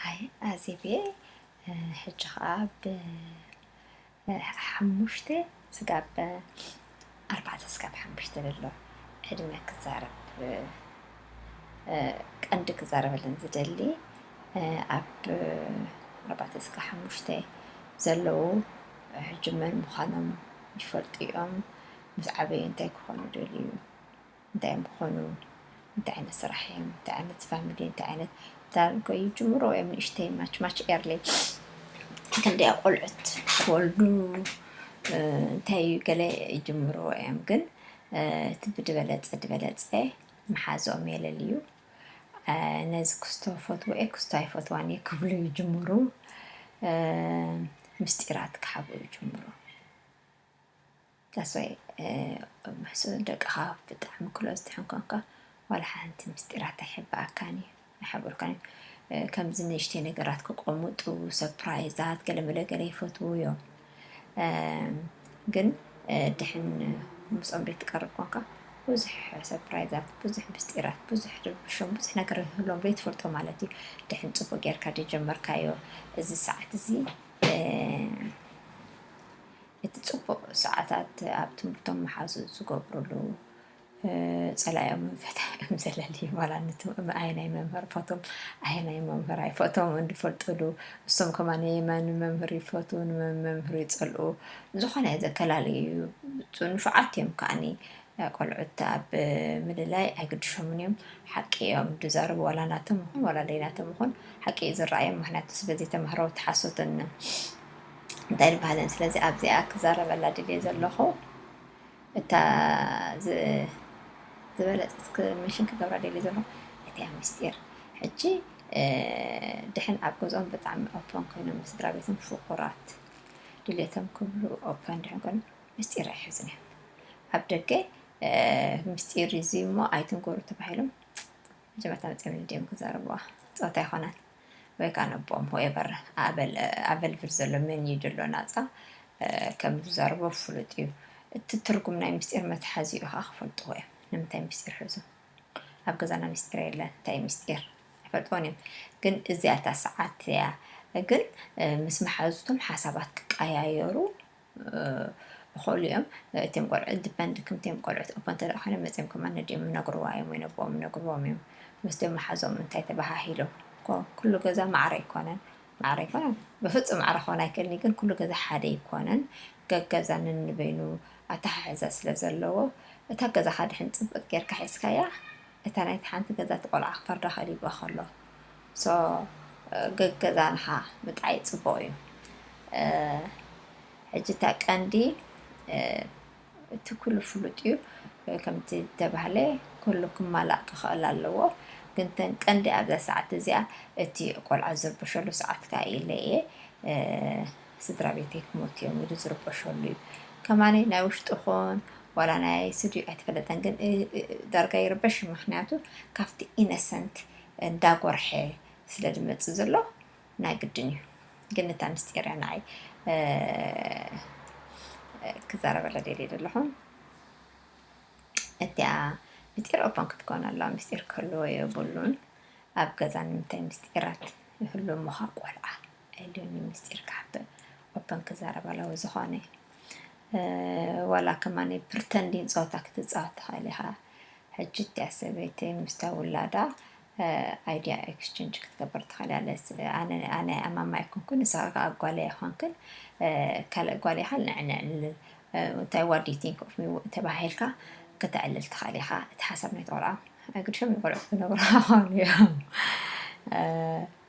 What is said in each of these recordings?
ሃየ ኣዜብየይ ሕጂ ኸኣ ብ ሓሙሽተ ስጋብ ኣርባዕተ ስጋብ ሓሙሽተ ዘሎ ዕድመ ክዛረብ ቀንዲ ክዛረበለን ዝደሊ ኣብ ኣርባዕተ ስጋ ሓሙሽተ ዘለዉ ሕጂ መን ምዃኖም ይፈልጡ እዮም ምስ ዓበዩ እንታይ ክኾኑ ደልዩ እንታይ እዮም ክኾኑ እንታይ ዓይነት ስራሕ እዮም እንታይ ዓይነት ፋሚሊ እንታይ ዓይነት ዳርጎ ይጅምሮ እዮም ንእሽተይ ማች ማች ኤርሊ ክንደያ ቆልዑት ክወልዱ እንታይ እዩ ገለ ይጅምሮ እዮም ግን እቲ ብድበለፀ ድበለፀ መሓዝኦም የለልዩ ነዚ ክስቶ ፈትዎ እየ ክስቶ ኣይፈትዋን እየ ክብሉ ይጅምሩ ምስጢራት ክሓብኡ ይጅምሩ ተስፋይ ምስ ደቅኻ ብጣዕሚ ክሎዝ ትሕን ኮንካ ዋላ ሓንቲ ምስጢራት ኣይሕበኣካን እዩ ኣይሕብሩካን እዩ ከምዚ ንእሽተይ ነገራት ክቆምጡ ሰፕራይዛት ገለመለ ገለ ይፈትዉ እዮም ግን ድሕን ምስኦም ደይ ትቀርብ ኮንካ ብዙሕ ሰፕራይዛት ብዙሕ ምስጢራት ብዙሕ ርብሾም ብዙሕ ነገር ህሎም ደይ ትፈልጦ ማለት እዩ ድሕን ፅቡቅ ጌርካ ደይ ጀመርካዮ እዚ ሰዓት እዚ እቲ ጽቡቕ ሰዓታት ኣብ ትምህርቶም ምሓዙ ዝገብሩሉ ጸላኦምን ፈታኦም ዘለሊ ዋላነት ኣየናይ መምህር ፈቶም ኣየናይ መምህር ኣይፈቶም እንፈልጡሉ እሶም ከማን የማን መምህር ይፈቱ ንመምህር ይጸልኡ ዝኾነ ዘከላልዩ እዩ ንፉዓት እዮም ከዓኒ ቆልዑት ኣብ ምልላይ ኣይግድሾምን እዮም ሓቂ እዮም ድዛረቡ ዋላ ናቶም ይኹን ዋላ ለይናቶም ይኹን ሓቂ ዝረኣዮም ምክንያቱ ስለዘይተማህረው ተሓሶትን እንታይ ድበሃለን ስለዚ ኣብዚኣ ክዛረበላ ድልየ ዘለኹ እታ ዝበለፀት ምሽን ክገብራ ደልየ ዘለኹ እቲያ ምስጢር ሕጂ ድሕን ኣብ ገዝኦም ብጣዕሚ ኦፖን ኮይኖም ምስድራ ቤቶም ፍቁራት ድሌቶም ክብሉ ኦፖን ድሕን ኮይኑ ምስጢር ኣይሕዙን እዮም ኣብ ደገ ምስጢር እዚ እሞ ኣይትንገሩ ተባሂሎም መጀመርታ መፅኦም ድዮም ክዛረብዋ ፀወታ ይኮናል ወይ ካኣ ነቦም ሆኤቨር ኣበል ኣቨልቭል ዘሎ መን እዩ ድሎ ናጻ ከም ዝዛረቦ ፍሉጥ እዩ እቲ ትርጉም ናይ ምስጢር መትሓዚኡ ካኣ ክፈልጥዎ እዮም ንምንታይ ምስጢር ሕዙ ኣብ ገዛና ምስጢር የለን እንታይ ምስጢር ኣይፈልጥዎን እዮም ግን እዚኣ እታ ሰዓት እያ ግን ምስ መሓዙቶም ሓሳባት ክቀያየሩ ይኸሉ እዮም እቲም ቆልዑ ዲፐንድ ክምቲም ቆልዑት እኳ እንተ ኮነ መፂም ከማ ነዲኦም ነግርዋ እዮም ወይ ነቦኦም ነግርዎም እዮም ምስቶም መሓዞም እንታይ ተባሃሂሎም ኩሉ ገዛ ማዕረ ኣይኮነን ማዕረ ኣይኮነን ብፍፁም ማዕረ ክኾን ኣይክእልን ግን ኩሉ ገዛ ሓደ ኣይኮነን ገገዛ ነንበይኑ ኣተሓሕዛ ስለ ዘለዎ እታ ገዛኻ ድሕን ፅብቅ ጌርካ ሒዝካያ እታ ናይቲ ሓንቲ ገዛቲ ቆልዓ ክፈርዳ ከሊብዋ ከሎ so ገገዛ ንኻ ምጥዓይ ጽቡቕ እዩ ሕጂ እታ ቀንዲ እቲ ኩሉ ፍሉጥ እዩ ከምቲ ተባህለ ኩሉ ክማላእ ክኽእል ኣለዎ ግን ተን ቀንዲ ኣብዛ ሰዓት እዚኣ እቲ ቆልዓ ዝርብሸሉ ሰዓት ከኣ ኢለ እየ ስድራ ቤተይ ክሞቱ እዮም ኢሉ ዝርበሸሉ እዩ ከማነይ ናይ ውሽጡ ኹን ዋላ ናይ ኣይስድዩ ኣይተፈለጠን ግን ዳርጋ ይርበሽ ምክንያቱ ካብቲ ኢነሰንት እንዳጎርሐ ስለ ዝመጽእ ዘሎ ናይ ግድን እዩ ግን እታ ምስጢር እያ ንዓይ ክዛረበላ ደልየ ዘለኹ እቲኣ ምስጢር ኦፖን ክትኮን ኣለዋ ምስጢር ክህልዎ የብሉን ኣብ ገዛ ንምንታይ ምስጢራት ይህሉ እሞኻ ቆልዓ ኣይደልዩ ምስጢር ክሓብእ ኦፐን ክዛረብ ኣለዎ ዝኾነ ዋላ ከማኒ ፕርተንዲን ፀወታ ክትፃወት ትኽእል ኢኻ ሕጂ እቲኣ ሰበይቲ ምስታ ውላዳ ኣይዲያ ኤክስቸንጅ ክትገበር ትኽእል ኣለስ ኣነ ኣማማ ኣይኮንኩን ንስኻ ከዓ ጓል ኣይኮንክን ካልእ ጓል ኢኻ ንዕንዕልል እንታይ ዋዲ ቲንክ ኦፍ ሚ ተባሂልካ ክተዕልል ትኽእል ኢኻ እቲ ሓሳብ ናይ ተቆልዓ ግድሾም ንቆልዑ ክነግሩ ክኾኑ እዮም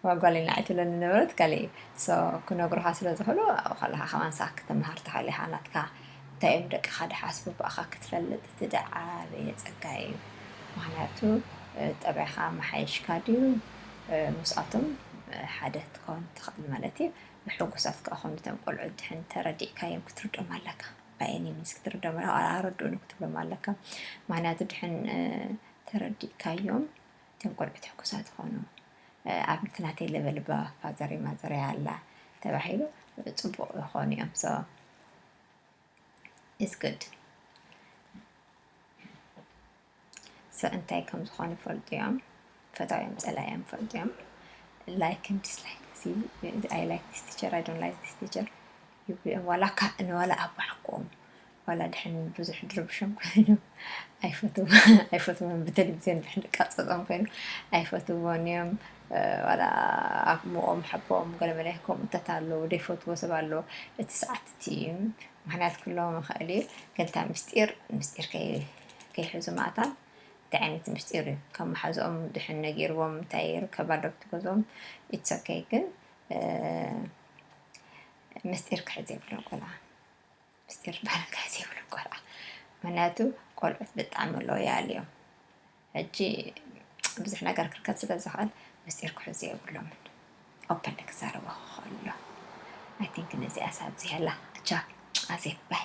እዋ ጓለይ ንዓይ ትብለኒ ዝነበረት ካልእ እዩ so ክነግሩኻ ስለ ዝኽእሉ ኣብኡ ከለኻ ከማን ሳክ ክትምሃር ትኽእል ኢኻ ናትካ እንታይ እዮም ደቅኻ ድሓስቡ ብኣኻ ክትፈልጥ እቲ ድዓበየ ጸጋ እዩ ምኽንያቱ ጠባይኻ ኣመሓይሽካ ድዩ ምስኣቶም ሓደ ትከውን ትኽእል ማለት እዩ ብሕጉሳት ክኣ ኮኑ እቶም ቆልዑ ድሕን ተረዲእካዮም ክትርዶም ኣለካ ባየኒ ሚንስ ክትርዶም ኣለካ ኣረድኡኒ ክትብሎም ኣለካ ምክንያቱ ድሕን ተረዲእካዮም እቶም ቆልዑት ሕጉሳት ይኾኑ። ኣብቲ ናተይ ለበል እባ ፋዘረይ ማዘረይ ኣላ ተባሂሉ ፅቡቕ ይኾኑ እዮም ሶ ኢስ ግድ ሶ እንታይ ከም ዝኾኑ ይፈልጡ እዮም ፈታውዮም ፀላእዮም ይፈልጡ እዮም ላይክን ዲስላይክ ኣይ ላይክ ዲስ ቲቸር ኣይ ዶንት ላይክ ዲስ ቲቸር ይብሉ እዮም ዋላ ካብ ንዋላ ኣብ ባዕኮም ዋላ ድሕን ብዙሕ ድርብሾም ኮይኑ ኣይፈትዎን ብተለቪዝዮን ድሕን ድቃፀፆም ኮይኑ ኣይፈትዎን እዮም ዋላ ኣሞኦም ሓቦኦም ገለመለ ከምኡታት ኣለዉ ደይፈትዎ ሰብ ኣለዎ እቲ ሰዓት እቲ እዩ ምክንያት ክለዎም ይኽእል እዩ ግን እታ ምስጢር ምስጢር ከይሕዙ ማእታን እንታይ ዓይነት ምስጢር እዩ ካብ መሓዝኦም ድሕን ነጊርዎም እንታይ ይርከብ ኣሎ ብትገዝኦም ኢትሰከይ ግን ምስጢር ክሕዝ የብሎም ቆልዓ ምስጢር ባርካ ዘይብሉ ቆልዓ ምክንያቱ ቆልዑት ብጣዕሚ ሎያል እዮም ሕጂ ብዙሕ ነገር ክርከብ ስለ ዝኽእል ምስጢር ክሕዙ የብሎምን ኦፐን ክዛረቦ ከሎ ኣይ ቲንክ ነዚኣ ሳብ ዝያላ ቻው ኣዜብ ባይ